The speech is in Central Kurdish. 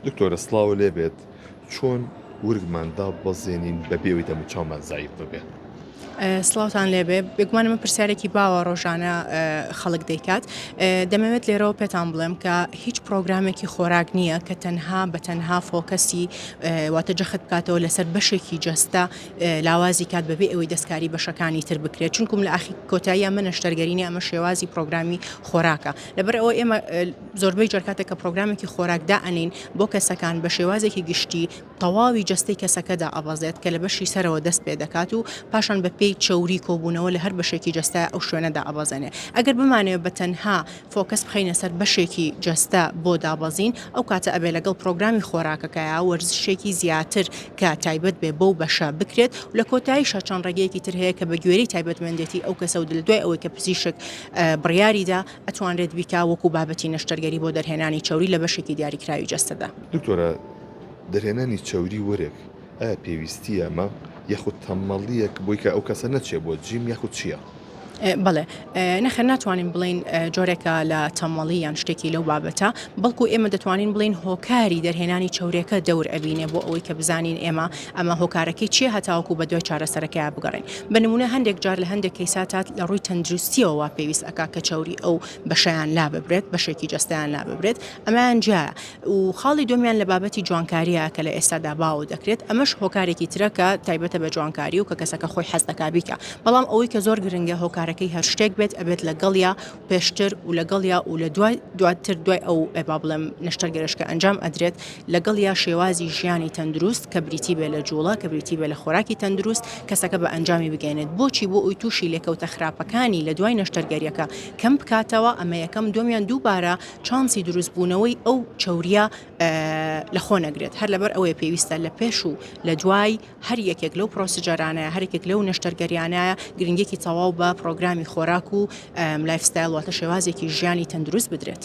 دکتۆرە سڵاو لێ بێت چۆن ورگمان داببەزێنین بەبێ ئەوی دەم و چاومان زایف ببێت؟ سلااوان لێبێ بێگومان من پرسیارێکی باوە ڕۆژانە خەڵک دەیکات دەمەوێت لێرەوە پێتان بڵێم کە هیچ پرۆگرامێکی خۆراک نییە کە تەنها بە تەنها فۆکەسی واتە جەخت بکاتەوە لەسەر بەشێکی جەستە لاوازی کات بەبێ ئەوەی دەستکاری بەشەکانی تر بکرێت چونکم لە ئاخی کۆتاییە منە شتەرگەرینی ئەمە شێوازی پرۆگرامی خۆراکە لەبەر ئەوە ئێمە زۆربەی جار کاتێک کە پڕۆگرامێکی خۆراک دائەنێین بۆ کەسەکان بە شێوازێکی گشتی تەواوی جەستەی کەسەکە دائەبەزێت کە لە بەشی سەرەوە دەست پێ دەکات و پاشان بە پێی چەوری کۆبوونەوە لە هەر بەشێکی جەستە ئەو شوێنە دائەبەزێنێ ئەگەر بمانەوێ بە تەنها فۆکەس بخەینە سەر بەشێکی جەستە بۆ دابەزین ئەو کاتە ئەبێ لەگەڵ پڕۆگرامی خۆراکەکەیا وەرزشێکی زیاتر کە تایبەت بێ بەو بەشە بکرێت و لە کۆتاییشا چەند ڕێگەیەکی تر هەیە کە بە گوێرەی تایبەتمەندێتی ئەو کەسە و لە دوای ئەوەی کە پزیشک بڕیاریدا ئەتوانرێت بیکا وەکو بابەتی نەشتەرگەری بۆ دەرهێنانی چەوری لە بەشێکی دیاریکراوی جەستەدا. دکتۆرە دەرهێنانی چەوری وەرێک ئایا پێویستیە مە یاخود تەمەڵیەک بۆی کە ئەو کەسە نەچێ بۆ جیم یاخود چیە؟ بەڵێ نەخێر ناتوانین بڵین جۆرێکە لە تەمەڵی یان شتێکی لەو بابەتە بەڵکو ئێمە دەتوانین بڵین هۆکاری دەرهێنانی چاورێکە دەور ئەبینێ بۆ ئەوەی کە بزانین ئێمە ئەمە هۆکارەکەی چیە هەتاوەکو بەدوای چارەسەرەکەیا بگەڕێین؟ بە نمونە هەندێک جار لە هەندێک کەیسا تاد لە ڕووی تەندروستیەوە وا پێویست ئەکا کە چەوری ئەو بەشەیان لا ببرێت بەشێکی جەستەیان لا ببرێت ئەمەیان جیایە و خاڵی دومیان لە بابەتی جوانکاریە کە لە ئێستادا باو دەکرێت ئەمەش هۆکارێکی ترە کە تایبەتە بە جوانکاری و کە کەسەکە خۆی حەز دەکا بیکا بەڵام ئەوەی کە زۆر گرنگە هۆکارەکەی هەر شتێک بێت ئەبێت لەگەڵیا پێشتر و لەگەڵیا و لە دوای دواتر دوای ئەو با بڵێم نەشتەرگەرش کە ئەنجام ئەدرێت لەگەڵیا شێوازی ژیانی تەندروست کە بریتی بێ لە جوڵە کە بریتی بێ لە خۆراکی تەندروست کەسەکە بە ئەنجامی بگەێنێت بۆچی بۆ ئەوی تووشی لێکەوتە خراپەکانی لە دوای نەشتەرگەریەکە کەم بکاتەوە ئەمە یەکەم دومیان دووبارە چانسی دروست بوونەوەی ئەو چوریا لە خۆ نەگرێت هەر لەبەر ئەوەیە پێویستە لە پێش و لە دوای هەر یەکێک لەو پرۆسیجەرانە، هەر یەکێک لەو نەشتەرگەریانە گرنگیەکی تەواو بە پرۆگرامی خۆراک و لایف ستایل واتە شێوازێکی ژیانی تەندروست بدرێت.